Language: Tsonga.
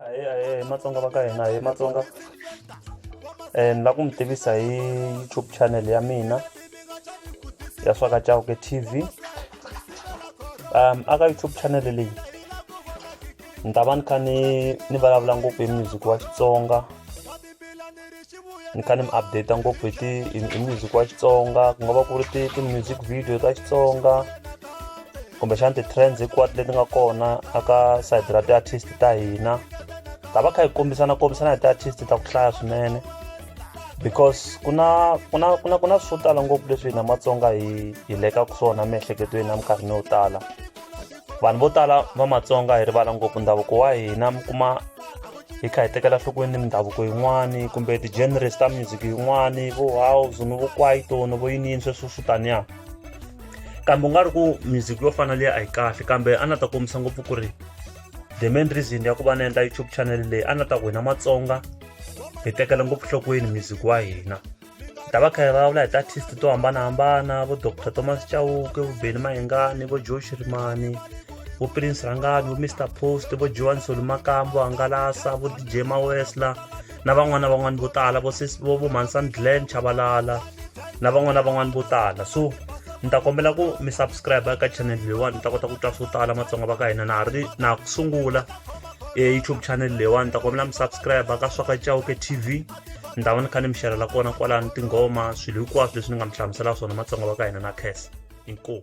ahee ahee hi matsonga va ka hina hi matsonga um ni lava ku mi tivisa hi youtube channel ya mina ya swaka chauke tv um aka youtube channel leyi ni ta va ni kha ni ni vulavula ngopfu hi music wa xitsonga ni kha ni mi update ngopfu hi ti hi music wa xitsonga ku nga va ku ri ti ti-music video ta xitsonga kumbexana ti-trends hikwati leti nga kona aka side ra ti-artist ta hina ta va kha hi kombisana kombisana hi ti-artist ta ku hlaya swinene because ku na ku na ku na ku na swo tala ngopfu leswi hina matsonga hi hi lekaka swona miehleketweni na minkarhini yo tala vanhu vo tala va matsonga hi rivala ngopfu ndhavuko wa hina mi kuma hi kha hi tekela nhlokweni mindhavuko yin'wani kumbe ti-genres ta music yin'wani vo house ni vo kwaito ni vo yiniyini sweswo swo taniya kambe u nga ri ku music yo fana leyi a yi kahle kambe a na ta kombisa ngopfu ku ri the main reason ya ku va na endla youtube channel leyi a na ta ku hina matsonga hi tekela ngopfu nhlokweni music wa hina ta va kha hi vulavula hi ti-artist to hambanahambana vo dr thomas chauke vo beni mahengani vo joe xirimani vo prince rangani vo mr post vo joan solumakam vo hangalasa vo dj mawesla na van'wana na van'wana vo tala vo vo vo mansan glen chavalala na van'wana na van'wana vo tala so ni ta kombela ku mi subscribe eka channel leyiwani ni ta kota ku twa swo tala matsonga va ka hina na ha ri na ha ku sungula e youtube channel leyiwani ni ta kombela mi subscribe ka swaka chauke tv ndhawu ni kha ni mi xerhela kona kwalani tinghoma swilo hinkwaswo leswi ni nga mi hlamuselaka swona matsonga va ka hina na khesa inkomu